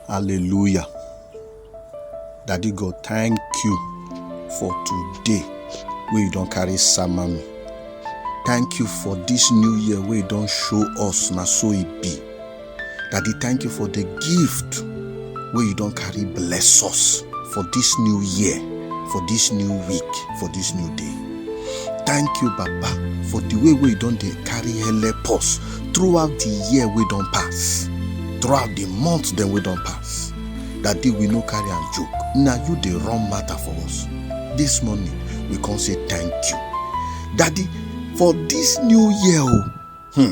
Hallelujah. Daddy God, thank you for today where you don't carry Samami. Thank you for this new year where you don't show us na so it e be. Daddy, thank you for the gift where you don't carry bless us for this new year, for this new week, for this new day. thank you baba for the way wey you don dey carry help us throughout the year wey don pass throughout the month dem wey don pass that day we no carry am joke na you dey run matter for us this morning we come say thank you daddy for this new year o oh, hmm,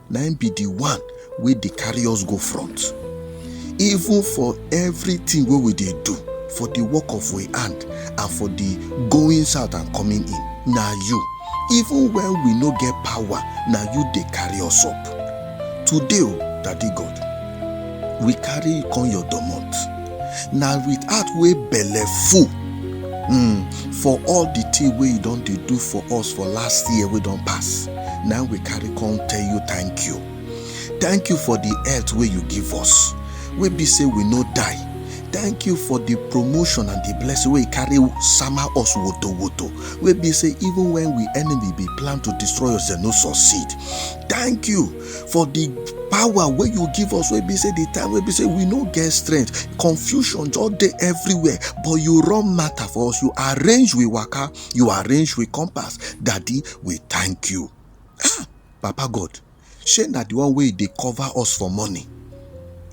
na im be the one wey dey carry us go front even for everything wey we dey do for the work of we hand and for the goings out and coming in na you even when we no get power na you dey carry us up today o daddy god we carry come your domot na with heart wey belle full um for all the thing wey you don dey do for us for last year wey don pass na we carry come tell you thank you thank you for the health wey you give us wey be say we no die thank you for the promotion and the blessing wey you carry sama us woto woto wey be say even when we enemy be plan to destroy us dem no succeed thank you for the power wey you give us wey be say the time wey be say we no get strength confusion just dey everywhere but you run matter for us you arrange we waka you arrange we compass daddy we thank you ah papa god shey na the one wey dey cover us for morning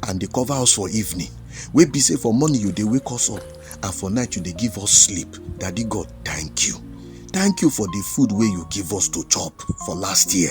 and dey cover us for evening wey be say for morning you dey wake us up and for night you dey give us sleep daddy god thank you thank you for the food wey you give us to chop for last year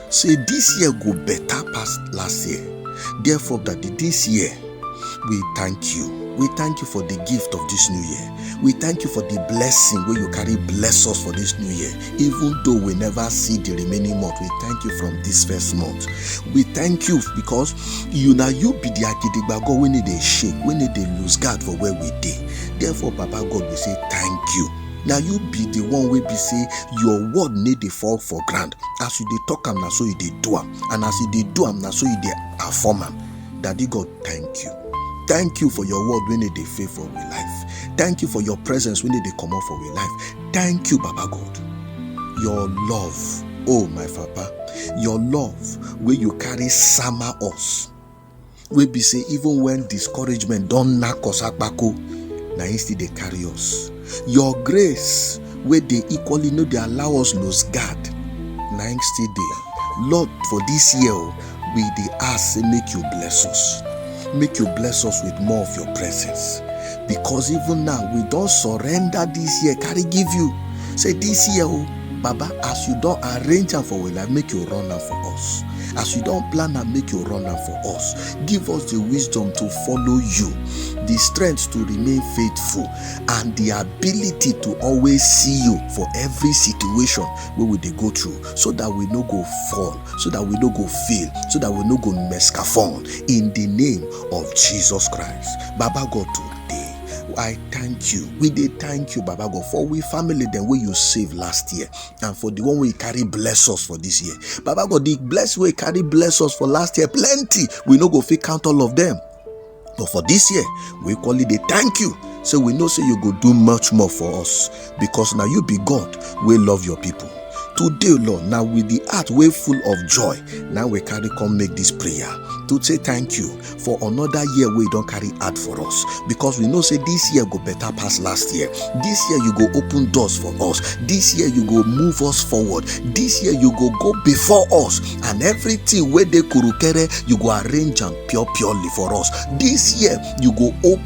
say this year go better pass last year therefore daddy this year we thank you we thank you for the gift of this new year we thank you for the blessing wey you carry bless us for this new year even though we never see the remaining month we thank you from this first month we thank you because you na you be the agidigba god wey no dey shake wey no dey lose guard for where we dey therefore papa god we say thank you na you be the one wey be say your word no dey fall for ground as you dey talk am na so you dey do am and as you dey do am na so you dey perform am daddy god thank you thank you for your word wey no dey fail for we life thank you for your presence wey no dey comot for we life thank you baba god your love oh my papa your love wey you carry sama us wey be say even when discouragement don knack us akpako na him still dey carry us your grace wey dey equally no dey allow us lose guard na him still dey lord for this year oh, we dey ask say make you bless us make you bless us with more of your presence because even now we don surrender this year carry give you say this year oh. baba as you don arrange am for our life make you run am for us as you don plan am make you run am for us give us the wisdom to follow you the strength to remain faithful and the ability to always see you for every situation wey we dey go through so that we no go fall so that we no go fail so that we no go mescafon in the name of jesus christ baba god today I thank you. We did thank you, Baba God, for we family then where you saved last year and for the one we carry bless us for this year. Baba God, the bless we carry bless us for last year plenty. We no go fit count all of them. But for this year, we call it a thank you. So we know so you go do much more for us. because na you be God wey love your people. Today, Lord, now with the heart way full of joy, now we carry come make this prayer to say thank you for another year we don't carry out for us because we know say this year go better pass last year. This year you go open doors for us. This year you go move us forward. This year you go go before us and everything where they kurukere you go arrange and pure purely for us. This year you go open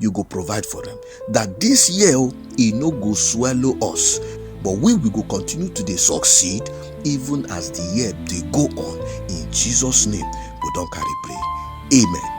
you go provide for them. that this year oh, e no go swallow us but we we go continue to dey succeed even as the year dey go on in jesus name we don carry pray amen.